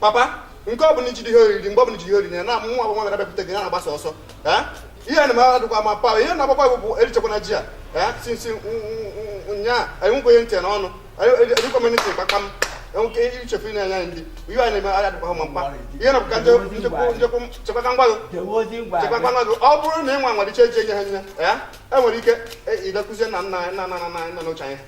papa nke ọ bụla iji ihe oriri mgbe ọ bụla iji ihe oriri ya na nwa bụ nwa gara bịapụta gị ya na-agbasa ọsọ ihe na mara dịkwa ma pa ihe na-agbakwa bụ erichekwana ji a sinsi nyaa anyị nwekwa ihe ntị na ọnụ erikwa m ntị kpakpa m enweke ichefu ị na-enye anyị ndị ihe anyị na-eme anya dịkwa ma mkpa ihe na bụka chekwaka ngwa gị chekwaka ngwa gị ọ bụrụ na ị nwa nwere iche eji enye ha nye ya enwere ike idekụzie na nna nna nna nna nna n'oche anyị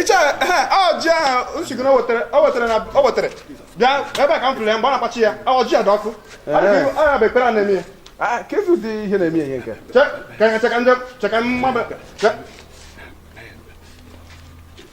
ichie ọjị ahụ nsigoro o wetara na o wetara bịa ebe a ka m fụrụ ya mgbe a na-akpachi ya ọjị a dị ọkụ ọrịa bụ ekpere a na-eme ya Ah, ka efu dị ihe na-eme ihe nke cheka ndị cheka mmadụ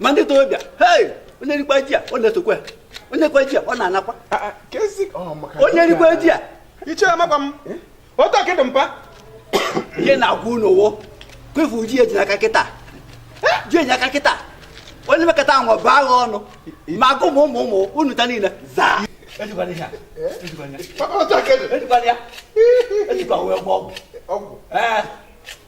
ma ndị torobịa hei onye rikwa ji a ọ na-esokwa ya onye rikwa ji a ọ na-anakwa ah, ah, oh, onye rikwa ji a ichie amakwa m eh? otu akịdị mpa ihe na-agwa unu wo kwefu ji e ji n'aka kịta eh? ji e ji aka kịta onye mekọta ahụ bụ agha ọnụ ma agụ ụmụ ụmụ ụmụ unu ta niile zaa ejikwala ihe a ejikwala ya ejikwala ya ejikwa wee gwọọ ọgwụ ọgwụ ee eh.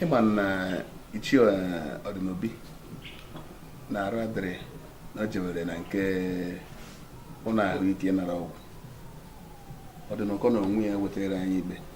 ị ma na ichie ọdịnobi na arụ adịghị na o jewere na nke ụlọ ahụike nara ọgwụ ọdịnụkọ n'onwe ya wetara anyị ikpe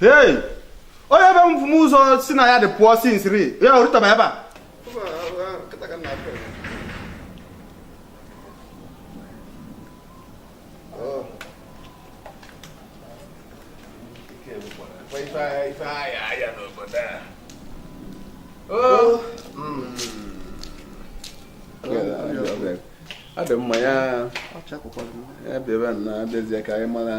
Hey! Onye be m bụ m ụzọ sị na ya dị pụọ si nsiri ya o rutaba ebe a. Ọ dị mma ya ya bịara na abịazie ka anyị mara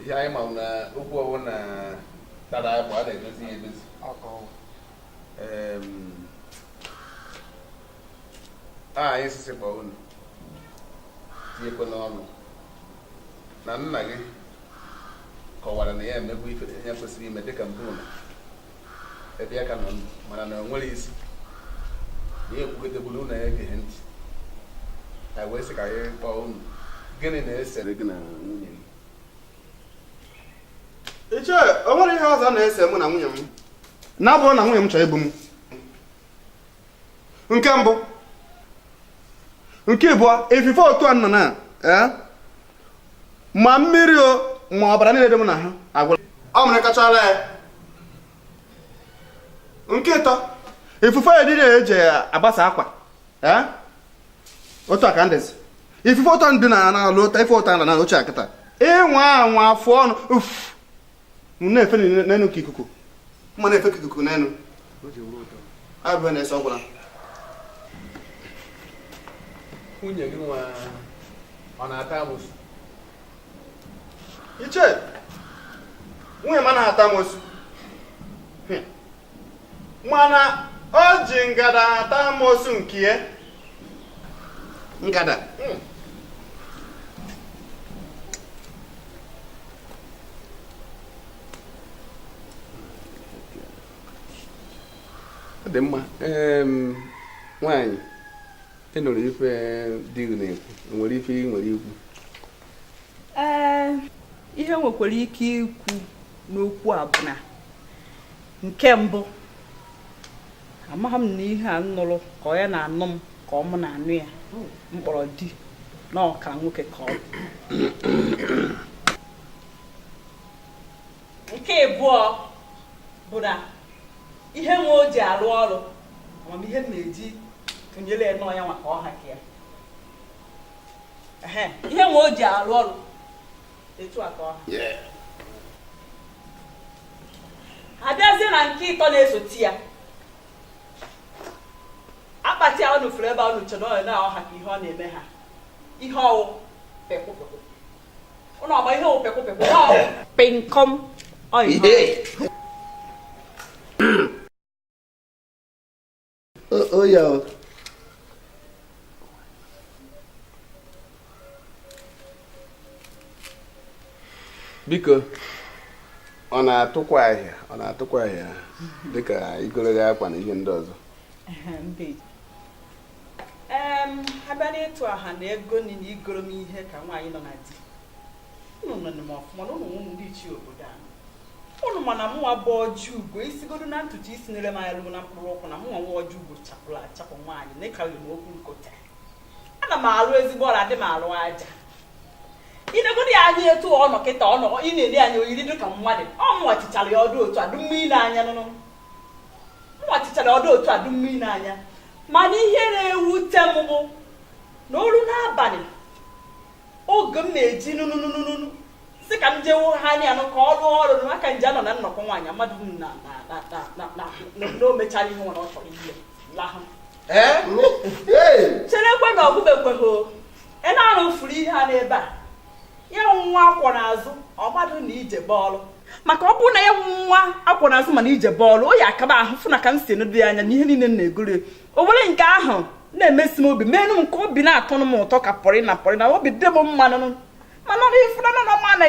ihe anyị ma na okwu ọ wụna tara bụ a na-edozi ya edozi a anyị sị sị kpọọ unu tinyekwa n'ọnụ na nna gị kọwara na ya emego ife ya kwesịrị ime dịka mbụ ụlọ ebe ya ka nọ ndụ mana na o nwere isi na ya ekwugotegburu ụlọ ya egeghị ntị anyị wee sị ka anyị kpọọ unu gịnị na-esere gị na nwunye gị ichie o nwere ihe ọzọ na-ese mụ na nwunye m na-abụghị na nwunye m chọrọ igbu m nke mbụ nke ịbụọ ifufe otu a nọ na eh, ma mmiri o ma ọbara niile dị m n'ahụ agwụla ọ mịrịkachala ya nke ịtọ ifufe ụdọ eji agbasa akwa eh, otu a ka m dịzi ifufe ụtọ ndị na na-alụ ife ụtọ na na oche akịta ịnwa anwa afụ ọnụ uff m na-efe n'enu ka ikuku mma na-efe ka ikuku n'enu abụ na-ese ọgwụla nwunye gịnwa ọ na-ata amosu ichie nwunye m anaghị ata amosu mana o ji ngada ata amosu nke ya ngada hmm. ọ dị mma nwaanyị ị nụrụ ife di gị na-ekwu nwere ife ị nwere ikwu ee ihe m nwekwara ike ikwu n'okwu a bụ na nke mbụ amaghị m na ihe a m nụrụ ka ọ ya na-anụ m ka ọ mụ na-anụ ya m kpọrọ di na ọka nwoke ka ọ bụ nke abụọ bụ na ihe nwa o ji alụ ọlụ ama m ihe m na-eji tụnyere ya n'ọnya maka ọ ha ka ya ihe nwa o ji arụ ọrụ etu a ka ọ ha a bịazie na nke ịtọ na-esote ya akpati a unu furu ebe a unu chere ọ ya na ọ ha ka ihe ọ na-eme ha ihe ọ wụ pekwụpekwụ ụnụ ọgba ihe ọ wụ pekwụpekwụ na ọ wụ penkom ọyị biko ọ na-atụkwa ahịa ọ na-atụkwa ahịa dịka igoro gị akwa na ihe ndị ọzọ a bịa n'ịtụ ahịa na ego nri na igoro m ihe ka nwaanyị nọ na di unu ma na mụnwa bụ ọjị ugo i sigodo na ntutu isi nere m anya lue na mkpụrụ ụkwụ na mụnwa nwa ọjị ugo chapụrụ achapụ nwaanyị na ịkarịrị m okwu nkụta ana m alụ ezigbo ọrụ adị m alụ aja i negodi ya anya etu ọ nọ kịta ọ nọ ị na-ele anya o yiri dị ka mmadụ ọ mụnwa chichara ya ọdụ otu adụ mmiri n'anya nụnụ mụnwa chichara ọdụ otu adụ mmiri n'anya mana ihe na-ewute m bụ na o lue n'abalị oge m na-eji nụnụnụnụnụ si ka m jewo ha anya anụ ka ọ rụọ ọrụ na aka nje anọ na nnukwu nwaanyị mmadụ na o mechara ihe nwere ọ chọrọ ihe lahụ cherekwa na ọ gwụbekwaghị ị na-arụ furu ihe a n'ebe a ya nwa akwọ n'azụ ọ marọ na ije bụ ọlụ maka ọ bụrụ na ya nwa akwọ n'azụ ma na ije bụ ọlụ o ya akaba ahụ fụ na ka m si enedo ya anya na ihe niile m na-egoro o nwere nke ahụ na-emesi m obi meenụ m ka obi na-atọnụ m ụtọ ka pọrị na pọrị na obi dị m mmanụ mana ị fụrụ na ọ ma na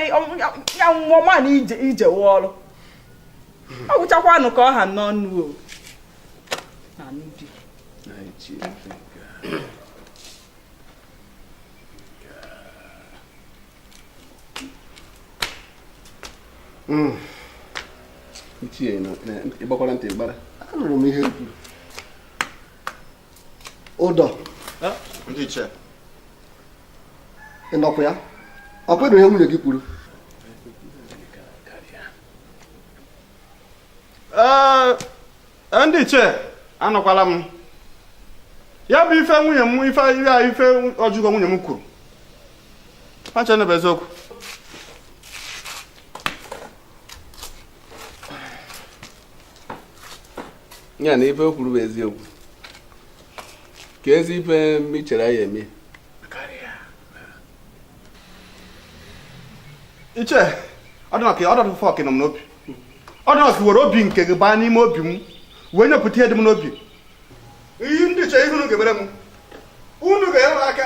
ya nwa ọ ma na ije wụ ọrụ ọ gwụchakwanụ ka ọ ha n'ọnụ hmm. ichie ị gbakwara ntị gbara anụrụ m ihe o kwuru ụdọ ị nụkwa ya ọ kwedo ihe nwunye gị kwuru ndị ichie anụkwala m ya bụ ife nwunye m ife Ojiugo nwunye m kwuru Chanụ bụ eziokwu. Ya na ife o kwuru bụ eziokwu. Ka ezi ife m chere ya eme. Ichie, ọ dị m ka ọ dọtụ fọk nọ m n'obi. Ọ dị m ka i were obi nke gị baa n'ime obi m wee nyepụta ihe dị m n'obi. Ihe ndị ichie ihe unu ga-emere m. Unu ga-enyere aka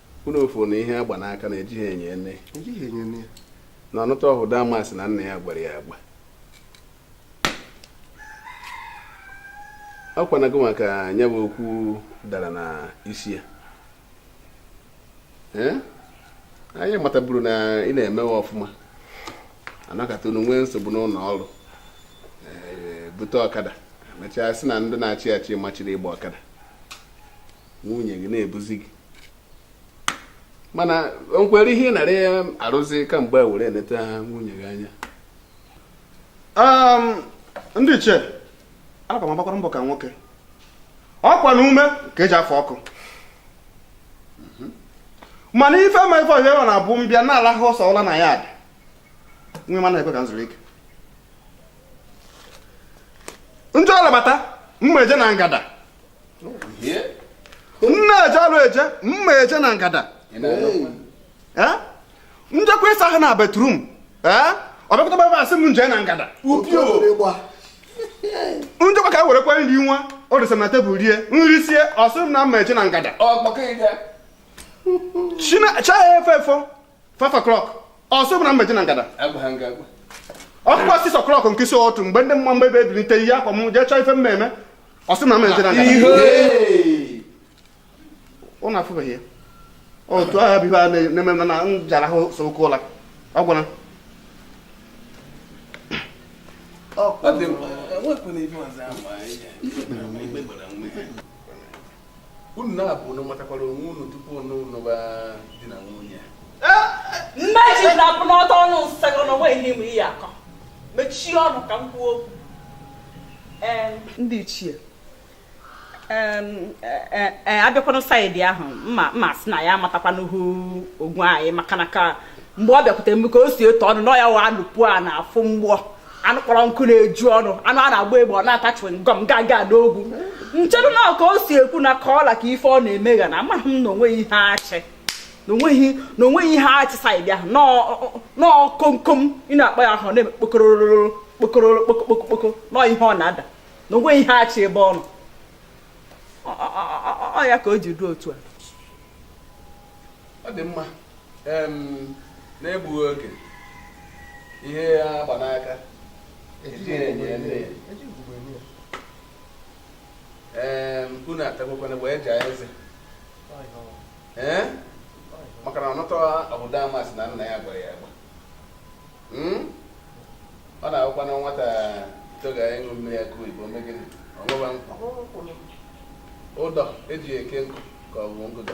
unu afụ na ihe a gba n'aka na ejighị enyo ene na nwata ahụ damas na nna ya gwara ya agba ọ kwanago maka ya bụ okwu dara na isi ya anyị mataburu na ị na-emewe ọfụma anọkata unu nwee nsogbu n'ụlọ ọrụ bute ọkada mechaa sị na ndị na-achị achị machiri ịgba ọkada nwunye gị na-ebuzi gị mana o nwere ihe ị nara ya arụzi kamgbe a were eneta nwunye gị anya Um, ndị ichie ana m agbakwara mbọ ka nwoke ọkwa na ume ka e ji afụ ọkụ mana ife ma ife ihe a na-abụ m bịa na-alahụ ụsọ ụla na ya adị nwe ma na-ekwe ka m zuru ike njọ ọlabata mma eje na ngada nne eje alụ eje m ma-eje na ngada m jekwa ịsa ahụ na bathroom ọ bịakọta ebe a sị m m jee na ngada m jekwa ka e werekwa nri nwa o dosa na table rie m risie ọ sị m na m ma-eje na ngada chi ya efo efo 5 o'clock ọ sị m na m ma-eje na ngada ọkụkọ 6 o'clock nke isi ụtụtụ mgbe ndị mma mgbe ebe ebilite ihe akwa m jee chọọ ife m ma-eme ọ sị m na m ma-eje na ngada unu afụbeghị ya otu agha bụ ihe a na-eme m na m jara ahụ so oke ụla ọ gwara ọ dị mma enwekwana ife ọzọ ama ihe unu naabọ unu matakwara onwe unu tupu unu nụba di na nwunye mmechi na-abụ n'ọtọ ọnụ nsagọ na o nweghị n'ime ihe akọ mechie ọnụ ka m kwuo okwu ndị ichie e, e, e, a bịakwanụ side ahụ mma mma sị na ya amatakwanụhụ ogwe anyị maka na ka mgbe ọ bịakwute m ka o si etu ọnụ na ya wa alụpụ a na-afụ mgbọ anụ kpọrọ nkụ na-eju ọnụ anụ a na-agba egbe ọ na-ata chewing gum gaga n'ogwu m chere na ka o si ekwu na ka ọ la ka ife ọ na-eme ya na amaghị m na o nweghị ihe a chị na o nweghị na o nweghị ihe a chị side ahụ nnọọ komkom ị na-akpa ya ọ na-eme kpokororo kpokororo kpokokpokokpoko nnọọ ihe ọ na-ada na o nweghị ihe a chị ebe ọ nọ ọ ya ka o ji ruo otu a ọ dị mma n'egbughị oge ihe a gba n'aka ejighị enyo ene unu atagokwana wee jaa eze ee maka na ọnụtọ obodo amasị na nna ya gbara ya agba hmm? ọ na-awụkwa na nwata toga ịṅụ mmiri ya ka oyibo mee gịnị ọṅụwa nkụ ụdọ e ji eke nkụ ka ọ bụ ngụdọ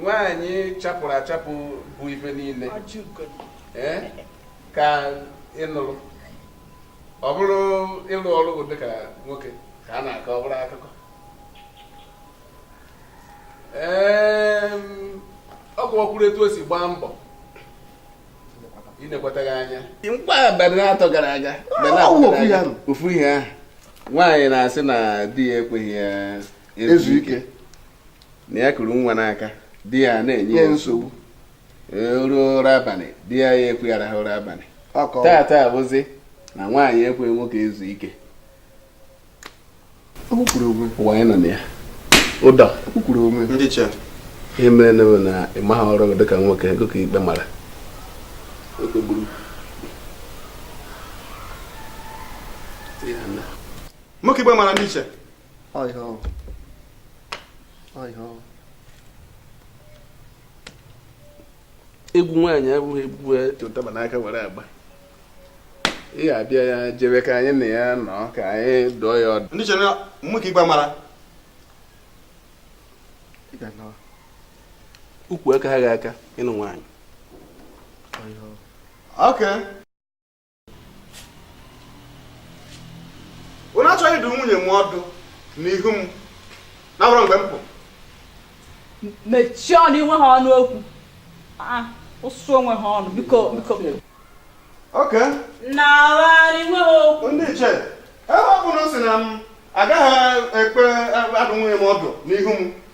nwaanyị chapụrụ achapụ bụ ife niile eh, ka ị nụrụ ọ bụrụ ịlụ ọrụ bụ dịka nwoke ka a na-akọ ọ bụrụ akụkọ ọ kọwakwuru etu o si gbaa mbọ inekwata ya anya ka abalị atọ gara aga ofu ihe ahụ nwaanyị na-asị na di ya ekweghị ya ezu ike na ya kuru nwa n'aka di ya na-enye ya nsogbu ruo ụra abalị di ya ya ekwe ya rahụ ụra abalị tata bụzi na nwaanyị ekwe nwoke ezu ike ụwa anyị nọ na ya ụdọ ihe mere na na ịmaghị ọrụ gị dịka nwoke ọ gị ka ikpe mara nwoke ikpe mara ndị ichie Ọ ihe ọ. Ọ ihe ọ. egwu nwaanyị abụghị egwu e ji ụtaba n'aka were agba ị ga-abịa ya jebe ka anyị na ya nọ ka anyị dụọ ya ọdụ ndị ichie na nwoke ikpe mara Ị ga na ukwu akaha gị aka ịnụ nwaanyị ọ ihe ọ. oke unu achọghị ịdụ nwunye m ọdụ n'ihu m na-abụrụ mgbe m pụ mechie ọnụ i nweha ọnụ okwu ah, ụsụ o nweha ọnụ biko biko oke na-agharị nweha okwu ndị ichie ebe ọ bụ unu sị na m agaghị ekwe adụ nwunye m ọdụ n'ihu m